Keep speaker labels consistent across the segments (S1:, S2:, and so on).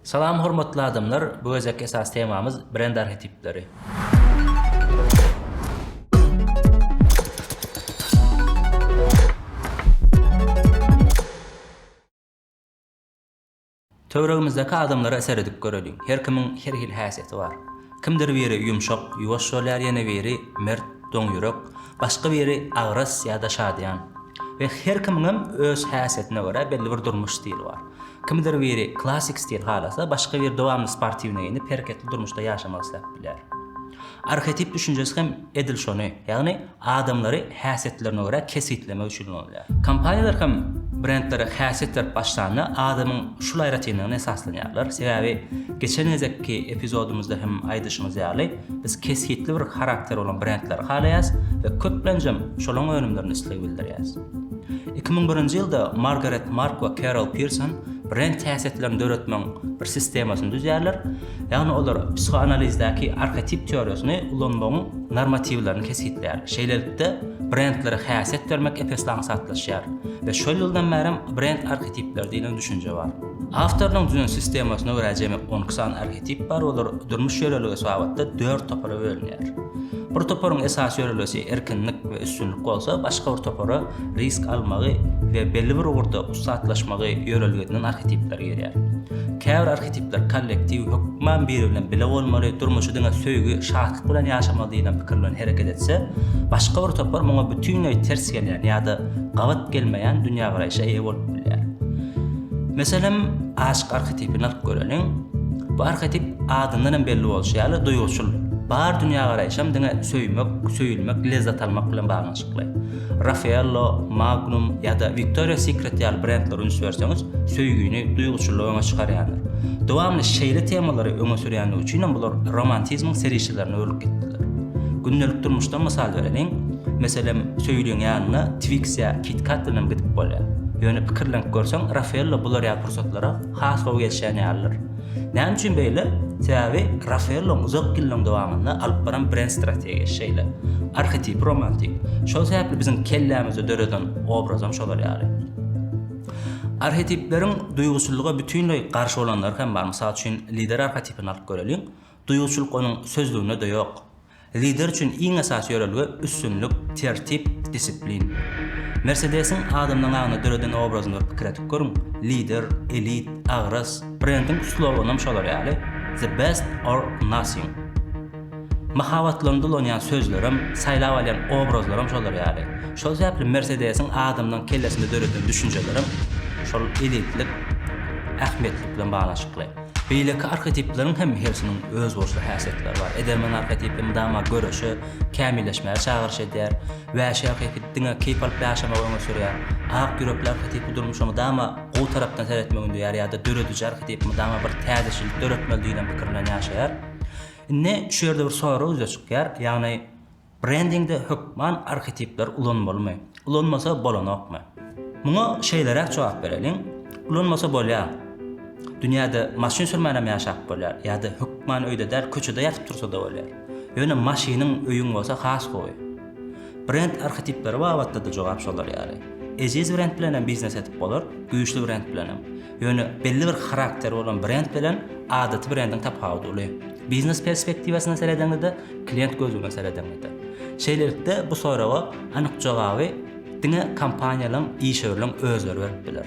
S1: Salam hormatly adamlar bu gezek esas temamyz brend arhetipleri. Töweregimizdäki adamlara seredip göreliň. Her kimiň her hil häsiýeti bar. Kimdir biri ýumşak, ýuwaş bolýar, ýene biri mert, doň ýürek, başga biri agras ýa-da şadyýan. We her kimiňem öz häsiýetine görä belli bir durmuş stili bar. Kimdir biri klassik stil halasa, başga biri dowamly sportiwne geýnip, hereketli durmuşda ýaşamak isläp bilýär. Arhetip düşünjesi hem edil şony, ýagny adamlary häsiýetlerine görä kesgitlemek üçin ulanylýar. Kompaniýalar hem brendlere häsiýet berip başlanda adamyň şul aýratynlygyna esaslanýarlar, sebäbi geçen gezekki epizodymyzda hem aýdyşymyz ýaly, biz kesgitli bir harakteri bolan brendleri halaýas we köplenjem şolaň önümlerine isleg bildirýäs. Iki müň birinji ýylda Margaret Mark we Kerol Pirson brend häsiýetlerini döretmegiň bir sistemasyny düzýärler, ýagny olar psihoanalizdäki arhetip teoriýasyny ulanmagyň normatiwlerini kesgitleýär. Şeýlelikde, brendlere häsiýet bermek epesli aňsatlaşýar we şol ýyldan bärem brend arhetipleri diýlen düşünje bar. Awtorynyň düzen sistemasyna görä jemi on iki sany arhetip bar, olar durmuş ýörelgesi babatda dört topara bölünýär. Bir toparyň esasy ýörelgesi erkinlik we üstünlik bolsa, başga bir topara risk almagy we belli bir ugurda ussatlaşmagy ýörelge edinen arhetipler girýär. Käbir arhetipler kollektiw, hökman biri bilen bile bolmaly, durmuşy diňe söýgi, şatlyk bilen ýaşamaly diýlen pikir bilen hereket etse, başga bir topar muňa bütinleý ters gelýän ýa-da gabat gelmeýän dünýägaraýşa eýe bolup bilýär. Meselem, aşyk arhetipini alyp göreliň. Bu arhetip adyndan hem belli bolşy ýaly duýguçyl. Bar dünýägaraýşam diňe söýmek, söýülmek, lezzet almak bilen baglanyşykly. Raffaello, Magnum ýa-da Victoria's Secret ýaly brendlere üns berseňiz, söýgini, duýguçyllygy öňe çykarýandyr. Dowamly şeýle temalary öňe sürýändigi üçinem bular romantizmiň serişdelerine öwrülip gitdiler. Gündelik durmuşdan mysal bereliň. Meselem, söýüliň ýanyna Twix ýa KitKat bilenem gidip bolýar. Ýöne pikirlenip görseň, Rafaello bular ýaly pursatlara has gowy gelişýän ýalydyr. Näme üçin beýle? Sebäbi Rafaelloň uzak ýyllaryň dowamynda alyp baran brend strategiýasy şeýle. Arhetipy romantik. Şol sebäpli biziň kellämizde döreden obrazam şolar ýaly. Arhetipleriň duýguçyllyga bütinleý garşy bolanlary hem bar. Mysal üçin, lider arhetipini alyp göreliň. Duýguçyllyk onuň sözlüginde-de ýok. Lider üçin iň esasy ýörelge üstünlik, tertip, disiplin. Mersedesiň adamlaryň aňynda döreden obrazyny bir pikir edip görüň, lider, elit, agras, brendiň sloganam şolar ýaly, The Best or Nothing. Mahabatlaryny dolanýan sözlerem, saýlap alýan obrazlaram şolar ýaly. Şol sebäpli Mersedesiň adamlaryň kellesinde döreden düşünjelerem şol elitlik, ähmiýetlik bilen baglanyşykly. Beýleki arhetipleriň hem hersiniň özboluşly häsiýetleri bar. Edermen arhetipi mydama göreşe, kämilleşmäge çagyryş edýär. Wäşi arhetipi diňe keýp alyp ýaşamagy öňe sürýär. Ak ýürekli arhetipi durmuşa mydama gowy tarapdan seretmegi ündeýär ýa-da dörediji arhetipi mydama bir täzeçilik döretmeli diýlen pikir bilen ýaşaýar. Indi şu ýerde bir sorag ýüze çykýar, ýagny. Brendingde hökman arhetipler ulanmalymy? Ulanmasa bolanokmy? Muňa şeýleräk jogap bereliň, Ulanmasa bolýar. Dünýäde maşyn sürmänem ýaşap bolýar, ýa-da hökman öýde däl, köçede ýatyp tursa-da bolýar. Ýöne maşynyň, öýüň bolsa has gowy. Brend arhetipleri babatda-da jogap şolar ýaly. Eziz brend bilenem biznes edip bolar, güýçli brend bilenem. Ýöne belli bir harakteri bolan brend bilen adaty brendiň tapawudy uly. Biznes perspektiwasyndan seredeňizde, klient gözünden seredeňizde. Şeýlelikde, bu soraga anyk jogaby diňe kompaniýalaryň, işewürleriň özleri berip biler.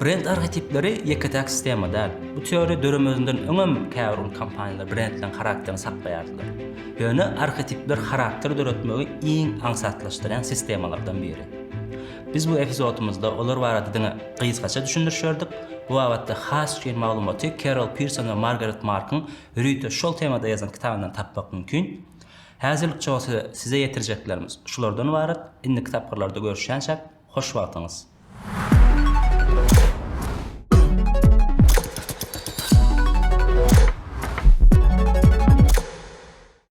S1: Brend arhetipleri ýeke-täk sistema däl. Bu teoriýa döremezinden öňem käbir uly kompaniýalar brendleriň harakterini saklaýardylar. Ýöne arhetipler harakter döretmegi iň aňsatlaşdyrýan sistemalardan biri. Biz bu epizodymyzda olar barada diňe gysgaça düşündiriş berdik. Bu babatda has çuň maglumaty Kerol Pirson we Margaret Markyň Rüte şol temada ýazan kitabyndan tapmak mümkin. Häzirlik çozsa size ýetirjeklerimiz şulardan ybarat. Indiki tapgyrlarda görüşýänçäk, hoş wagtyňyz!